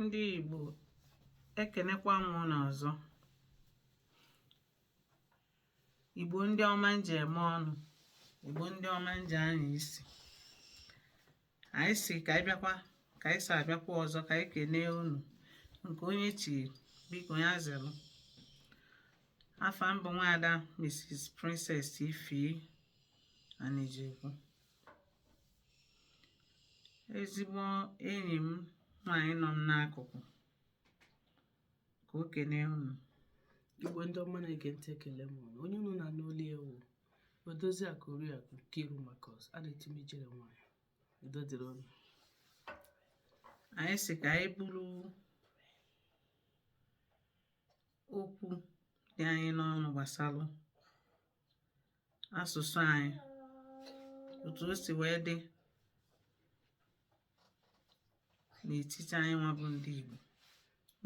ndị Igbo ekenekwa m unu ọzọ Igbo ndị ọma nji eme ọnụ Igbo ndị ọma nji anya isi anyị sị ka anyị bịakwa ka anyị si abịakwa ọzọ ka anyị kenee unu nke onye chi biko ya zere afa m bụ nwaada Mrs Princess Ify Anijekwu ezigbo enyi m nwaanyị nọ m n'akụkụ ka o kenee unu igbo ndị ọma na-ege ntị ekele m unu onye unu na-anụ olu ya wụ odoziakụ oriakụ Nkiru Marcus a na-etu m ijere nwanyị udo dịrị unu anyị sị ka anyị buru okwu dị anyị n'ọnụ gbasara asụsụ anyị otu o si wee dị n'etiti anyị nwa bụ ndị Igbo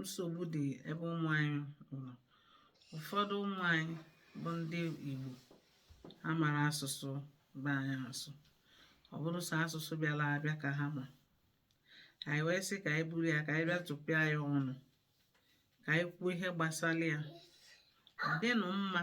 nsogbu dị ebe ụmụ anyị nọ ụfọdụ ụmụ anyị bụ ndị Igbo amarọ asụsụ be anyị asụ ọ bụrụ sọ asụsụ bịara abịa ka ha ma anyị wee sị ka anyị buru ya ka anyị bịa tụpịa ya ọnụ ka anyị kwuo ihe gbasara ya ọ dịnụ mma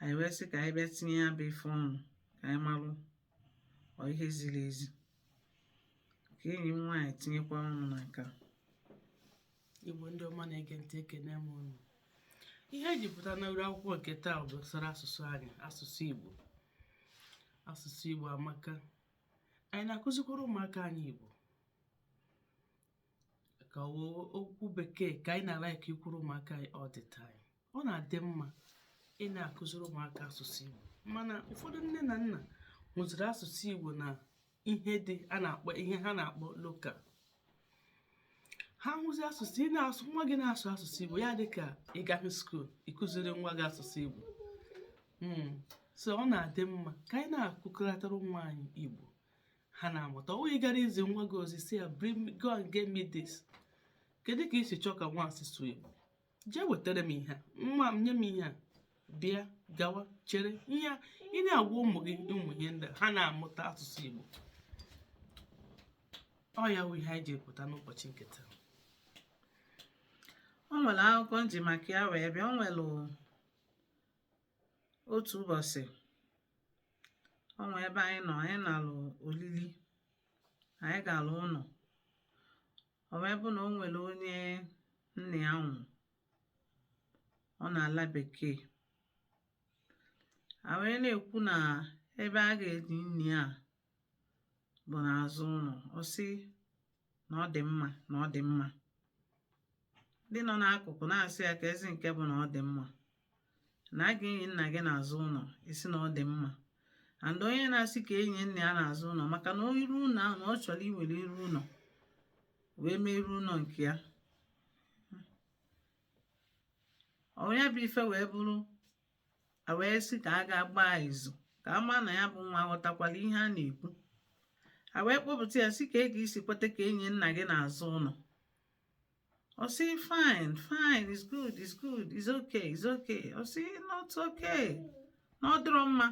anyị wee sị ka anyị bịa tinye ya bụ ife ọnụ ka anyị malụ ọ ihe ziri ezi ka enyi m nwaanyị tinyekwa ọnụ na nke a. igbo ndị ọma na-ege ntị ekene m unu ihe e ji pụta na uru akwụkwọ nke taa bụ gbasara asụsụ anyị asụsụ igbo asụsụ igbo amaka anyị na-akụzikwara ụmụaka anyị igbo ka o- okwu bekee ka anyị na-ala ka ikwuru ụmụaka anyị all the time ọ na-adị mma ị na-akụziri ụmụaka asụsụ Igbo mana ụfọdụ nne na nna hụziri asụsụ Igbo na ihe dị a na-akpọ ihe ha na-akpọ local ha hụzi asụsụ ị na-asụ nwa gị na-asụ asụsụ Igbo ya dị ka ị gaghị school ịkụziri nwa gị asụsụ Igbo hmm. so ọ na-adị mma ka anyị na-akụkọrịtara nwa anyị Igbo ha na-amụta ọ bụghị ị gara izi nwa gị ozi sị ya bring go and get me this kedu ka i si chọọ ka nwa asụsụ Igbo jee wetara m ihe nwa m nye m ihe a bịa gawa chere ihe ị na-agwa ụmụ gị ụmụ ihe ndị a ha na-amụta asụsụ Igbo ọ ya wụ ihe anyị ji pụta n'ụbọchị nke taa o nwere akụkọ nji maka ya wee bịa o nwere otu ụbọchị o nwee ebe anyị nọ anyị nalụ olili anyị galụ ụlọ ọ wee bụ na o nwere onye nna ya nwụrụ ọ nọ n'ala bekee a wee na-ekwu na ebe a ga-enyi nna ya bụ n'azụ ụlọ ọ sị na ọ dị mma na ọ dị mma ndị nọ n'akụkụ na-asị ya keezi nke bụ na ọ dị mma na a ga-enyi nna gị n'azụ ụlọ ị sị na ọ dị mma and onye na-asị ka e nyie nna ya n'azụ ụlọ maka na iru ụlọ ahụ na ọ chọrọ iwere iru ụlọ wee mee iru ụlọ nke ya onye bụ ife wee bụrụ a wee sị ka a gaa gbaa izu ka a maa na ya bụ nwa ghọtakwala ihe a na-ekwu a wee kpọpụta ya sị ka ị ga-esi kweta ka e nyie nna gị n'azụ ụlọ Ọ sị fine fine it's good it's good it's okay it's okay ọ sị not okay na ọ dịrọ mma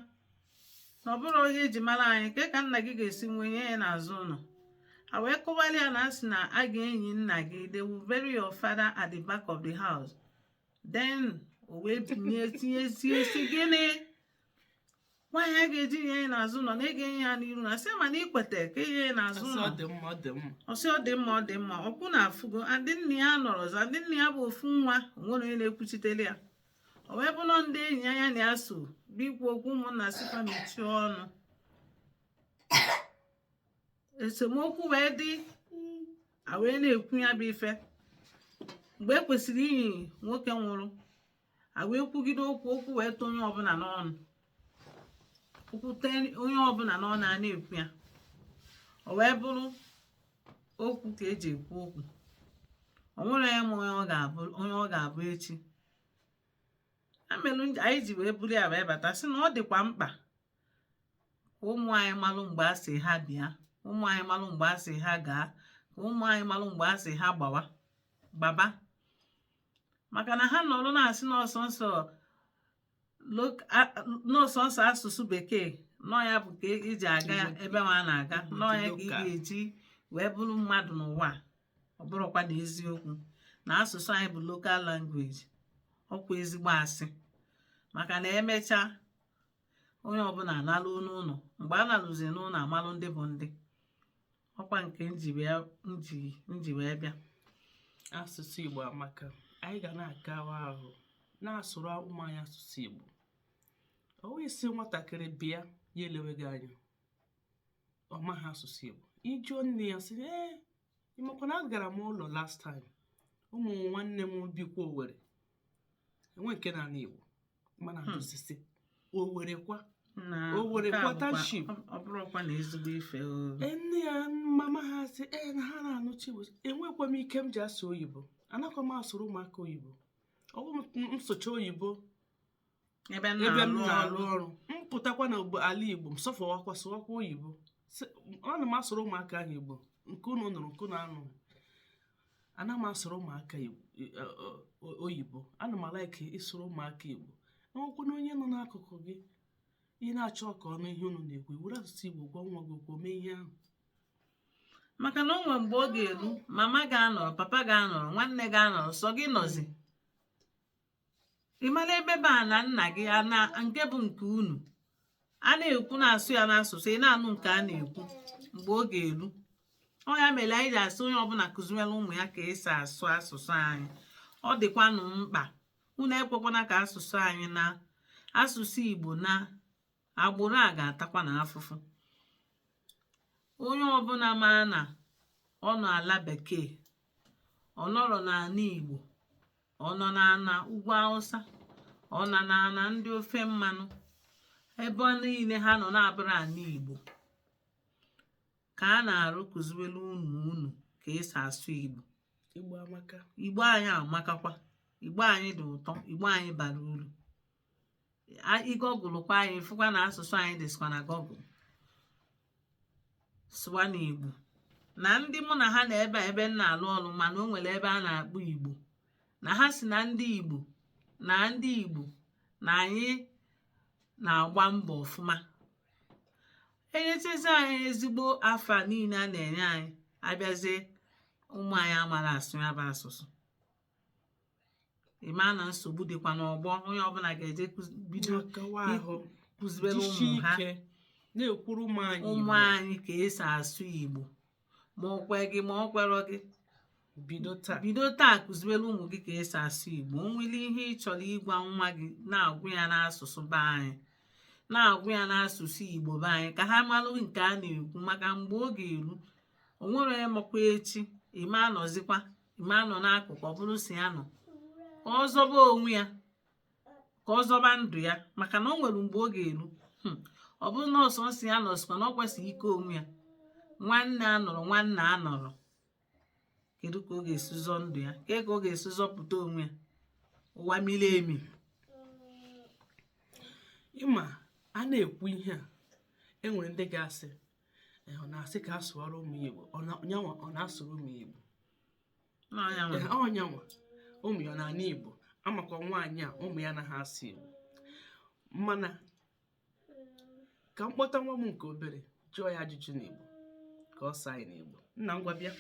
na ọ bụrọ ihe eji mara anyị kee ka nna gị ga-esi nwụọ e nyie ya n'azụ ụlọ a wee kọwara ya na a sị na a ga-enyi nna gị they will bury your father at the back of the house then o wee binye tiezie sị gịnị why a ga-eji nyie ya n'azụ ụlọ na a ga-enyi ya n'iru a sị mana i kweta ka e nyie ya n'azụ ụlọ ọ dị mma ọ dị mma ọ sị ọ dị mma ọ dị mma ọkwa unu afụgo ndị nna ya nọrọzi ndị nna ya bụ ofu nwa o nwerọ onye na-ekwuchitere ya o wee bụrụ ndị enyi ya ya na ya so bịa ikwu okwu ụmụnna sịkwa mechie ọnụ esemokwu wee dị a wee na-ekwu ya bụ ife mgbe e kwesịrị inyi nwoke nwụrụ a wee kwugide okwu okwu wee tụọ onye ọbụla n'ọnụ okwu tee onye ọbụla n'ọnụ a na-ekwu ya o wee bụrụ okwu ka eji ekwu okwu o nwerọ onye ma onye ọ ga-abụ echi ya melụ anyị ji wee buru ya wee bata sị na ọ dịkwa mkpa ka ụmụ anyị malụ mgbe a sị ha bịa ụmụ anyị malụ mgbe a sị ha gaa ka ụmụ anyị malụ mgbe a sị ha gbawa gbaba maka na ha nọrọ na-asị na ọ sọọsọ asụsụ bekee na ọ ya bụ ka eji aga ebe ụwa na-aga na ọ ya ka ị ga-eji wee bụrụ mmadụ n'ụwa ọ bụrọkwanụ eziokwu na asụsụ anyị bụ local language ọkwa ezigbo asị maka na emechaa onye ọbụla analụ n'ụlọ mgbe a nalụzi n'ụlọ a malụ ndị bụ ndị ọkwa nke nji wee bịa asụsụ Igbo amaka anyị ga na-agawa ahụ na-asụrụ ụmụ anyị asụsụ Igbo ọwa ị sị nwatakịrị bịa ya elewe gị anya ọ maghị asụsụ Igbo ị jụọ nne ya sị ee ị makwa na agara m ụlọ last time ụmụ nwanne m bikwa Owerri enwe nke na-anụ Igbo mana Hmm. ajụsisi o werekwa na O were nke a bụkwa- township. ọ- ọ bụrụkwa na ezigbo ife o Ee, nne ya mama ha sị ee na ha na-anụcha igbo enwekwa m ike m ji asụ oyibo anakwa m asụrụ ụmụaka oyibo ọ bụ m- m sụcha oyibo ebe m na-alụ ọrụ m pụtakwa na ogbo- ala igbo m sọfọwakwa sụwakwa oyibo ana m asụrụ ụmụaka ahụ igbo nke unu nụrụ nke unu anụrọ ana m asụrụ ụmụaka e, e, e, oyibo ana m a-like ịsụrụ ụmụaka igbo e nwekwanụ onye nọ n'akụkụ gị ị na-achọ ka ọ nụ ihe unu na-ekwu ị were asụsụ igbo gwa nwa gị okwu mee ihe ahụ maka na o nwere mgbe ọ ga-elu mama ga-anọrọ papa ga-anọrọ nwanne ga-anọrọ sọ gị nọzi ị mara ebe bụ ana nna gị nke bụ nke unu a na-ekwu na-asụ ya n'asụsụ ị na-anụ nke a na-ekwu mgbe ọ ga-elu ọ ya mere anyị ji asị onye ọbụla kụziwere ụmụ ya ka esi asụ asụsụ anyị ọ dịkwanụ mkpa unu ekwekwana ka asụsụ anyị na asụsụ igbo na agbụrụ a ga-atakwa na afụfụ onye ọbụla ma na ọ nọ ala bekee ọ nọrọ n'ala igbo ọ nọ n'ala ugwu awụsa ọ nọ n'ala ndị ofe mmanụ ebe niile ha nọ na-abụrọ ala igbo ka a na-arịọ kụziwere ụmụ unu ka esi asụ igbo igbo amaka igbo anyị amakakwa igbo anyị dị ụtọ igbo anyị bara uru ị googlekwa anyị ị fụkwa na asụsụ anyị dịsịkwa na google sụwanụ igbo na ndị mụ na ha nọ ebe a ebe m na-alụ ọrụ ma na o nwere ebe a na-akpọ igbo na ha sị na ndị igbo na ndị igbo na anyị na-agba mbọ ọfụma e nyechazi anyị ezigbo afa niile a na-enye anyị a bịazie ụmụ anyị amarọ asụ ya bụ asụsụ ị maa na nsogbu dịkwa n'ọgbọ onye ọbụla ga-eje kụzi- bido kụzibere ụmụ ha na-ekwuru ụmụ anyị ka esi asụ igbo ma ọ kwe gị ma ọ kwerọ gị bido taa kụziwere ụmụ gị ka esi asụ igbo o nwere ihe ị chọrọ ịgwa nwa gị na-agwa ya n'asụsụ be anyị na-agwa ya n'asụsụ igbo be anyị ka ha malụ nke a na-ekwu maka mgbe ọ ga-eru o nwerọ onye makwa echi ị ma anọzikwa ma nọ n'akụkụ ọ bụrụ sọ ya nọ ka ọ zọba onwe ya ka ọ zọba ndụ ya maka na o nwere mgbe ọ ga-eru hmm. ọ bụrụ na ọ sọ nsị ya nọsịkwa na ọ kwesịghị ike onwe ya nwanne anọrọ nwanne anọrọ kedu ka ọ ga-esi zọ ndụ ya kedu ka ọ ga-esi zọpụta onwe ya ụwa miri emi ị ma a na-ekwu ihe a enwere ndị ga-asị Eh, ọ na-asị ka a sụọrọ ụmụ ya igbo Ọ nyanwa ọ na-asụrụ ụmụ ya igbo ọ nyanwa ụmụ ya ọ na-anụ igbo amakwa nwaanyị a ụmụ ya anaghị asụ igbo mana ka m kpọta nwa m nke obere jụọ ya ajụjụ n'igbo ka ọ saa anyị n'igbo nna ngwa bịa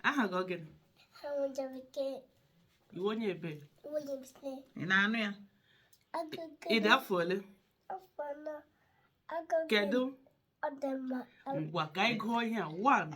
aha gị ọ gịnị ị wụ onye ebee ị na-anụ ya ị dị afọ ole kedu ngwa ka anyị gụọ ihe a one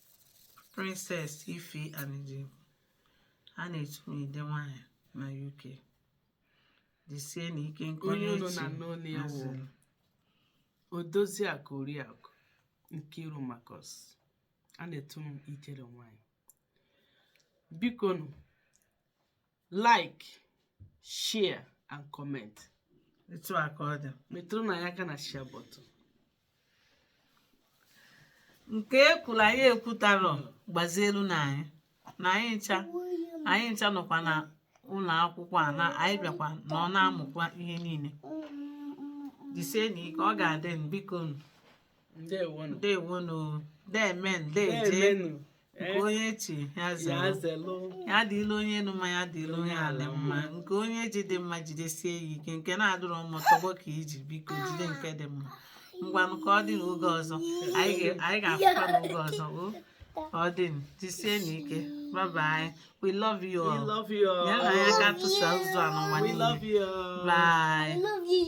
Princess Ife Anidi a na-etu m ide nwaanyị na UK jisienụ ike nke Onye unu echi na-anụ olu ya wụ. haziri. odoziakụ oriakụ nkiru Marcus a na-etu m ijere nwanyị biko nụ like share and comment etu a ka ọ dị metụrụnụ ya aka na share button nke ekwuru anyị ekwutarọ gbazielụnụ anyị na anyị ncha anyị ncha nọkwa na ụlọ akwụkwọ a na anyị bịakwa na ọ na-amụkwa ihe niile jisienụ ike ọ ga-adị mma biko nụ ndewonụ ndewonu deme ndeje na-emenụ nke onye chiri ya zara zelụ ya dịlị onye elu mma ya dịlị onye ala mma nke onye ji dị mma jidesie ya ike nke na-adịrọ mma tọgbọ ka i ji biko jide nke dị mma ngwanụ ka ọ dị n'oge ọzọ anyị ga- anyị ga-afụkwa n'oge ọzọ o ka ọ dị jisienụ ike bye bye we love you we all love you ya na all. anyị aka tụsa ụzọ a n'ụwa we niile love you all. bye